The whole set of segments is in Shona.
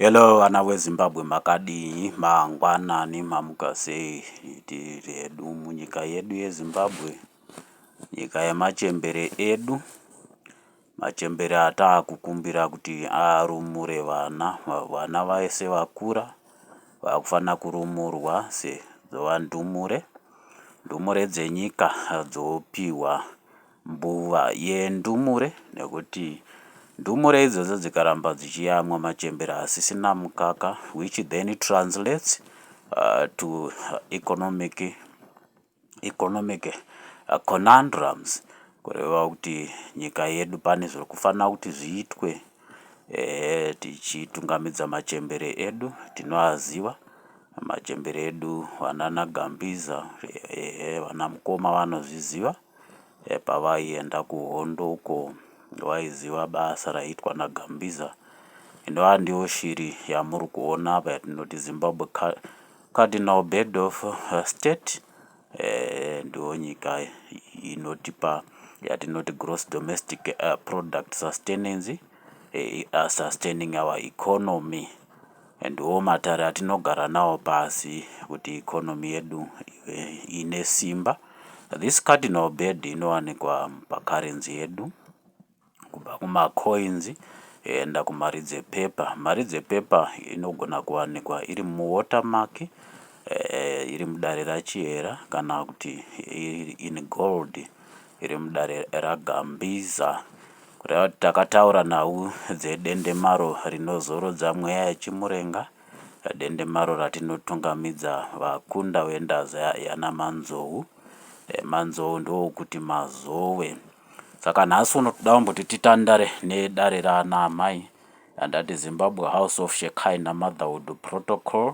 Hello vana weZimbabwe makadii mangwanani mamuka sei tiri hedu munyika yedu yeZimbabwe nyika yemachembere edu machembere ataakukumbira kuti arumure vana vana vese vakura vakufanira kurumurwa sedzova ndumure ndumure dzenyika dzopiwa Mbuva yendumure nekuti ndumure idzodzo dzikaramba dzichiyamwa machembere asisina mukaka which then translates uh, to economic economic uh, conundrums kureva kuti nyika yedu pane zviri kufanira kuti zviitwe eh, tichitungamidza machembere edu tinoaziva machembere edu vanana gambiza eh, vana mukoma vanozviziva pavaienda kuhondo uko vaiziva basa raiitwa naGambiza inova ndiyo shiri yamuri kuona apa yatinoti Zimbabwe Cardinal Bird of uh, State eh, ndiyo nyika inotipa yatinoti gross domestic uh, product sustenance eh, uh, sustaining our economy Ndiwo matare atinogara nawo pasi kuti economy yedu ive ine simba. This cardinal bird inowanikwa pacurrency yedu kubva kumacoins yoenda kumari dzepepa. Mari dzepepa inogona kuwanikwa iri muwatermark, eh, iri mudare raChihera kana kuti iri in gold. iri mudare raGambiza kureva kuti takataura nhau dzedendemaro rinozorodza mweya yechimurenga dendemaro ratinotungamidza vakunda vendaza yanamanzou eh, manzou ndiwo kuti mazowe saka nhasi uno toda kuti titandare nedare raana amai andati zimbabwe house of shekina motherhood protocol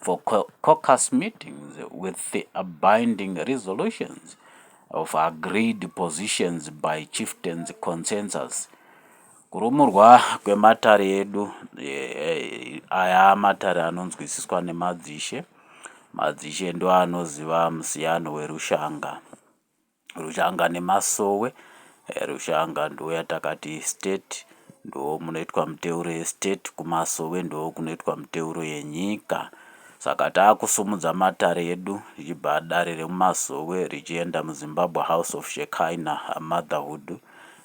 for caucus meetings with the abinding resolutions of agreed positions by chieftains consensus kurumurwa kwematare edu eh, eh, aya matare anonzwisiswa nemadzishe madzishe ndoanoziva musiyano werushanga Rushanga nemasowe eh, Rushanga ndo yatakati state ndo munoitwa muteuro yestate kumasowe ndo kunoitwa muteuro yenyika saka taakusumudza matare edu zvichibva dare remumasowe richienda muzimbabwe house of shekina motherhood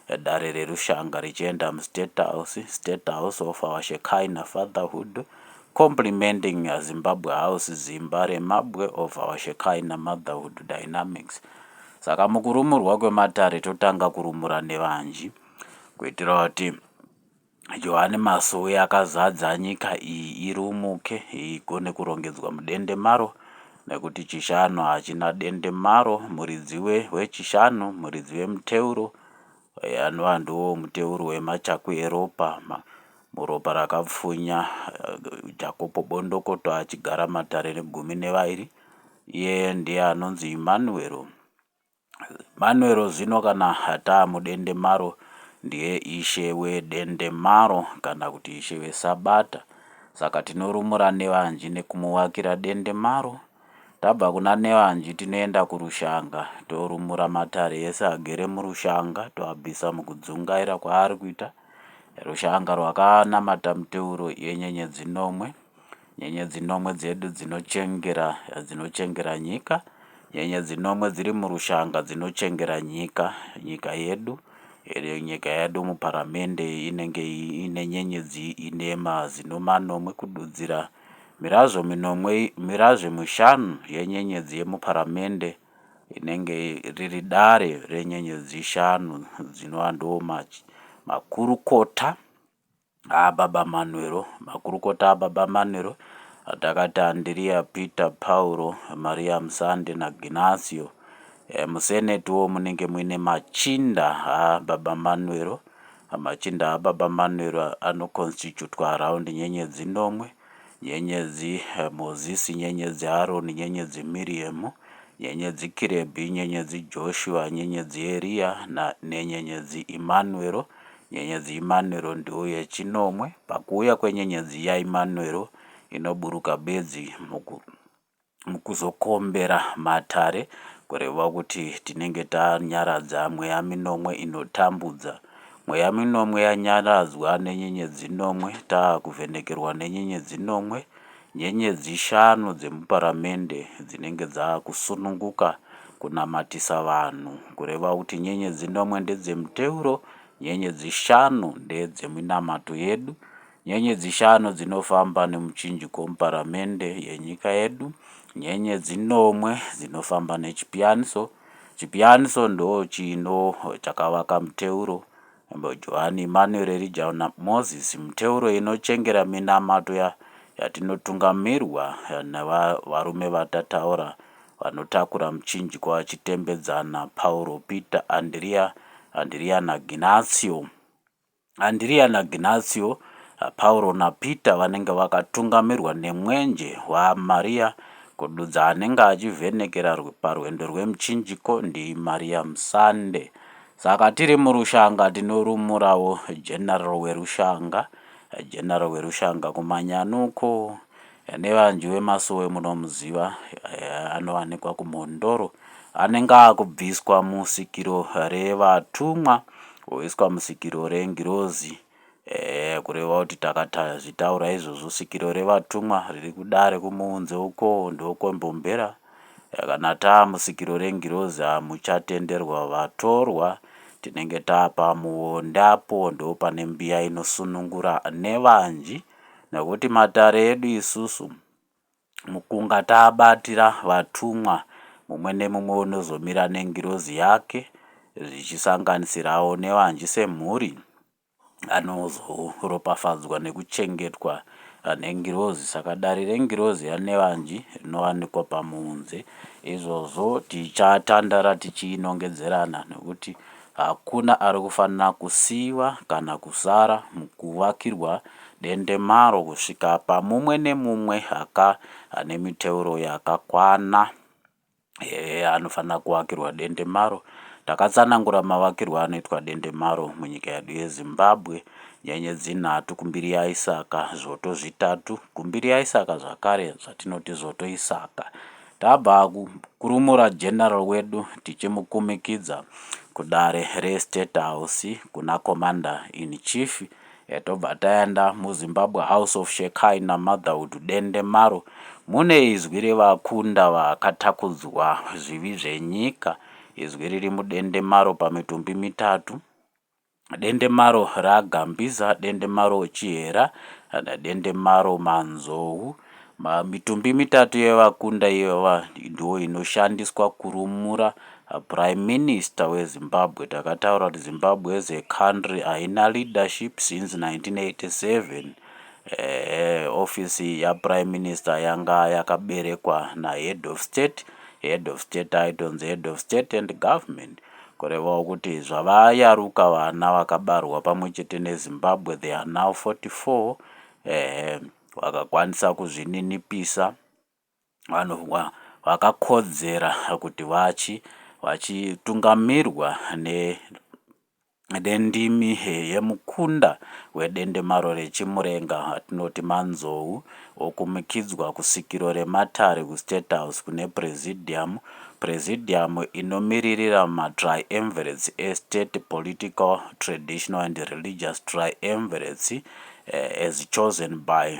eh, dare rerushanga richienda mustate house state house of our shekina fatherhood Complimenting Zimbabwe House Zimba remabwe of our Shekinah Motherhood Dynamics Saka mukurumurwa kwematare totanga kurumura nevanji kuitira kuti Johane Masowe akazadza nyika iyi irumuke igone kurongedzwa mudende maro nekuti chishanu hachina dende maro muridzi wechishanu muridzi wemuteuro Eya anova ndiwo muteuro wemachakwi eropa, ma, muropa rakapfunya, eh, Jakopo Bondokoto achigara matare negumi nevairi. Iye ndiye anonzi Imanuero. Manuero zvino kana ataa mudende maro ndiye ishe wedende maro kana kuti ishe wesabata. Saka tinorumura nevanji nekumuvakira dende maro. Tabva kuna Nevanji tinoenda kurushanga torumura matare ese agere murushanga toabvisa mukudzungaira kwaari kuita. Rushanga rwakanamata muteuro yenyenyedzi nomwe. Nyenyedzi nomwe dzedu dzinochengera dzinochengera nyika. Nyenyedzi nomwe dziri murushanga dzinochengera nyika nyika yedu iri nyika yedu muparamende inenge ine nyenyedzi inema zino manomwe kududzira Mirazvo minomwe, mirazvo mishanu yenyenyedzi yemuparamende inenge riri dare renyenyedzi shanu dzinova ndiwo makurukota aBaba Manwero. Makurukota aBaba Manwero atakati Andiriya, Peter, Pauro, Maria Musande naGinasio. E, eh, musenetiwo munenge muine machinda aBaba Manwero Machinda aBaba Manuel anokonstitutwa around nyenyedzi nomwe, nyenyedzi eh, Mozisi, nyenyedzi Aroni, nyenyedzi Miriemu, nyenyedzi Kirebhi, nyenyedzi Joshua, nyenyedzi Eriya na, nenyenyedzi Imanuero. Nyenyedzi Imanuero ndiyo yechinomwe. Pakuuya kwenyenyedzi yaImanuero inoburuka bedzi muku, mukuzokombera matare kureva kuti tinenge tanyaradza mweya minomwe inotambudza. Mweya minomwe yanyaradzwa nenyenyedzi nomwe taakuvhenekerwa nenyenyedzi nomwe, nyenyedzi shanu dzemuparamende dzinenge dzaakusununguka kunamatisa vanhu kureva kuti nyenyedzi nomwe ndedzemuteuro, nyenyedzi shanu ndedzeminamato yedu Nyenyedzi shanu dzinofamba nemuchinjiko muparamende yenyika yedu, nyenyedzi nomwe dzinofamba nechipiyaniso. Chipiyaniso ndochino chakavaka muteuro. Johani Emmanuel Elijah Moses muteuro inochengera minamato ya, yatinotungamirwa nevarume vatataura vanotakura muchinjiko vachitembedzana Pauro, Peter, Andrea, Andrea naGinasio. Andrea naGnacio, Pauro naPeter vanenge vakatungamirwa nemwenje waMaria kududza anenge achivhenekera parwendo rwemuchinjiko ndiMaria Musande. Saka tiri murushanga tinorumurawo general werushanga, general werushanga kumanyanuko, Nevanji wemasowe munomuziva anowanikwa kumhondoro anenge akubviswa musikiro revatumwa oiswa musikiro rengirozi kureva kuti takazvitaura izvozvo sikiro revatumwa riri kudare kumuunze uko ndokwembomhera kana taamusikiro rengirozi hamuchatenderwa vatorwa tinenge taapamuonde apo ndopane mbiya inosunungura nevanji Nekuti matare edu isusu mukunga taabatira vatumwa mumwe nemumwe unozomira nengirozi yake zvichisanganisirawo nevanji semhuri anozoropafadzwa nekuchengetwa nengirozi saka dare rengirozi yanevanji rinowanikwa pamunze izvozvo tichatandara tichiinongedzerana nekuti Hakuna ari kufanira kusiiwa kana kusara mukuvakirwa dendemaro kusvika pamumwe nemumwe aka ane miteuro yakakwana eh, anofanira kuvakirwa dendemaro. Takatsanangura mavakirwo anoitwa dendemaro munyika yedu yeZimbabwe, nyenyedzi nhatu kumbiri yaIsaka, zvoto zvitatu kumbiri yaIsaka zvakare zvatinoti zvoto Isaka. Tabva kurumura General wedu tichimukumikidza kudare reState House kuna Commander in Chief tobva taenda muZimbabwe House of Shekai naMotherhood Dende maro mune izwi revakunda vakatakudzwa zvivi zvenyika, izwi riri mudende maro pamitumbi mitatu. Dendemaro raGambiza, Dendemaro Chihera, Dendemaro Manzou. Mitumbi mitatu yevakunda ivava ndiyo inoshandiswa kurumura Prime Minister weZimbabwe. Takataura kuti Zimbabwe as a country haina leadership since 1987. Ehe, office yaPrime Minister yanga yakaberekwa naHead of State. Head of State aitonzi Head of State and Government. Kurevawo kuti zvavayaruka vana vakabarwa pamwe chete neZimbabwe they are now 44 ehe vakakwanisa kuzvininipisa vanova vakakodzera kuti vachi vachitungamirwa ne Dendimi yemukunda wedendemaro reChimurenga atinoti manzou okumukidzwa kusvikiro rematare kuState House kune Presidium, Presidium inomiririra maTriumvirates eState Political, Traditional and Religious Triumvirates as chosen by.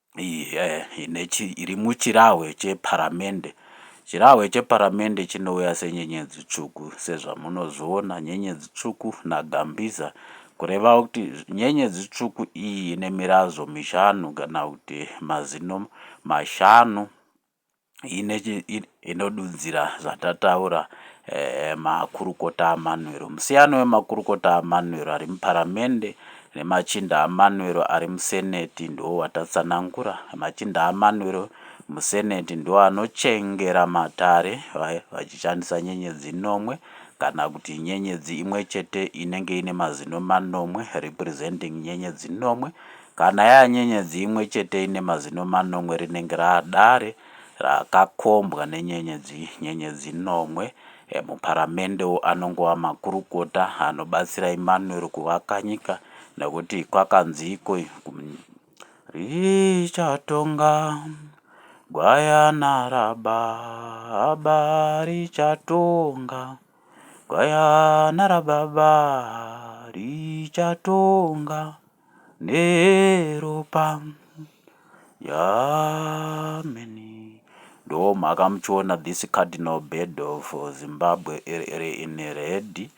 iri muchirahwe cheparamende. Chirahwe cheparamende chinouya senyenyedzi tsvuku sezvamunozviona nyenyedzi tsvuku naGambiza kureva kuti nyenyedzi tsvuku iyi ine mirazvo mishanu kana kuti mazino mashanu inodudzira zvatataura eh, makurukota amanwero musiyano wemakurukota amanwero ari muparamende nemachinda amanwero ari museneti ndiwo watatsanangura machinda amanwero museneti ndiwo anochengera matare vachishandisa nyenyedzi nomwe kana kuti nyenyedzi imwe chete inenge ine mazino manomwe representing nyenyedzi nomwe Kana yava nyenyedzi imwe chete ine mazino manomwe rinenge rava dare rakakombwa nenyenyedzi nyenyedzi nomwe. Emuparamendewo anongova makurukota anobatsira Emmanuel kuvaka nyika nekuti kwakanziiko Richatonga gwayana rababa richatonga gwayana rababa richatonga. neropa yameni ndomhaka muchiona this cardinal bed of zimbabwe iri in red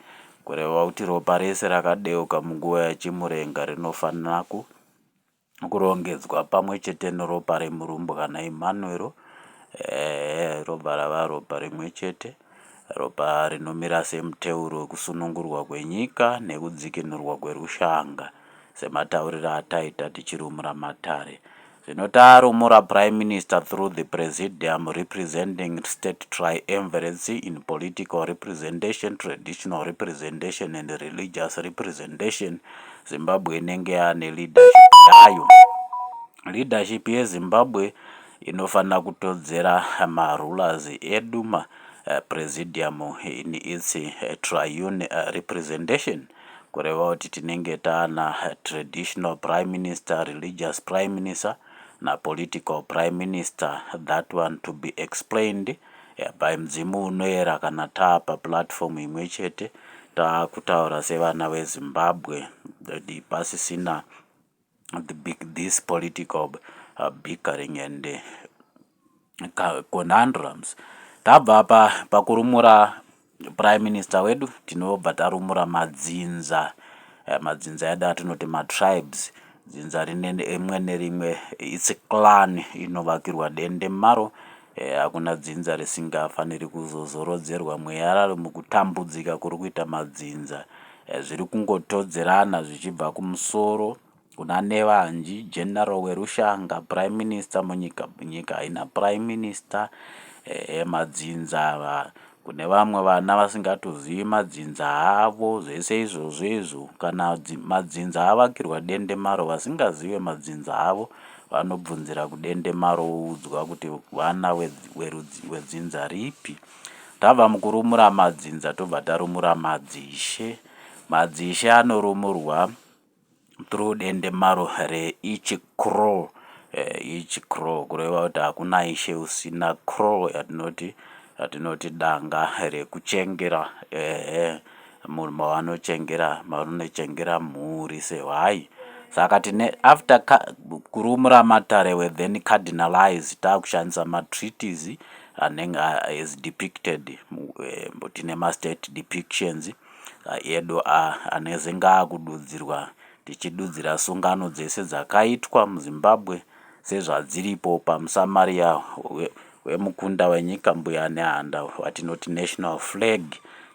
kureva kuti ropa rese rakadeuka munguva yachimurenga rinofanira ku kurongedzwa pamwe chete neropa remurumbwana emmanuero eh, ropa rava ropa rimwe chete Ropa rinomira semuteuro wekusunungurwa kwenyika nekudzikinurwa kwerushanga, sematauriro ataita tichirumura matare. Zvino tarumura Prime Minister through the Presidium representing state triumviracy in political representation, traditional representation and religious representation, Zimbabwe inenge yane leadership yayo. Leadership yeZimbabwe inofanira kutodzera marulers eduma eh, presidium in its eh, triune eh, representation kureva kuti tinenge taana traditional prime minister religious prime minister napolitical prime minister that one to be explained by mudzimu unoera kana taapa platform imwe chete taakutaura sevana vezimbabwe pasisina this political uh, bickering and uh, conundrums tabva pa pakurumura prime minister wedu tinobva tarumura madzinza uh, madzinza edu atinoti matribes dzinza rine rimwe nerimwe its clan inovakirwa dende maro Eh, hakuna dzinza risingafaniri kuzozorodzerwa mweya raro mukutambudzika kuri kuita madzinza eh, zviri kungotodzerana zvichibva kumusoro kuna nevanji general werushanga prime minister munyika nyika haina prime minister eh, eh madzinza ava Kune vamwe vana vasingatozivi madzinza avo zvese izvozvo izvo kana madzinza avakirwa dendemaro vasingazive madzinza avo vanobvunzira kudendemaro voudzwa kuti vana wedzinza ripi. Tabva mukurumura madzinza tobva tarumura madzishe. Madzishe anorumurwa through dendemaro reeach crow each crow kureva kuti hakuna ishe usina crow yatinoti yatinoti danga rekuchengera ehe munhu mavanochengera mavanochengera mhuri sehwai saka tine after kurumura matarewe then cardinalize takushandisa matreaties anenge as depicted tine mastate depictions Edu ah aneze ngaakududzirwa tichidudzira sungano dzese dzakaitwa muZimbabwe sezvadziripo pamusamaria wemukunda wenyika mbuya nehanda watinoti national flag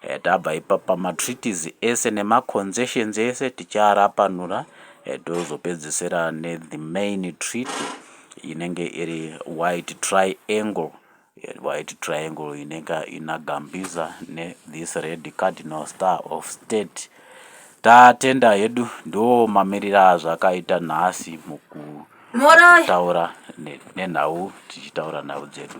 eh, tabva ipapa matreaties ese nemaconcessions ese tichiarapanura eh, tozopedzesera nethe main treaty inenge iri white triangle White triangle inenge ina Gambiza ne this red cardinal star of state. Tatenda hedu ndo mamirira azvakaita nhasi mukutaura nenhau tichitaura nhau dzedu.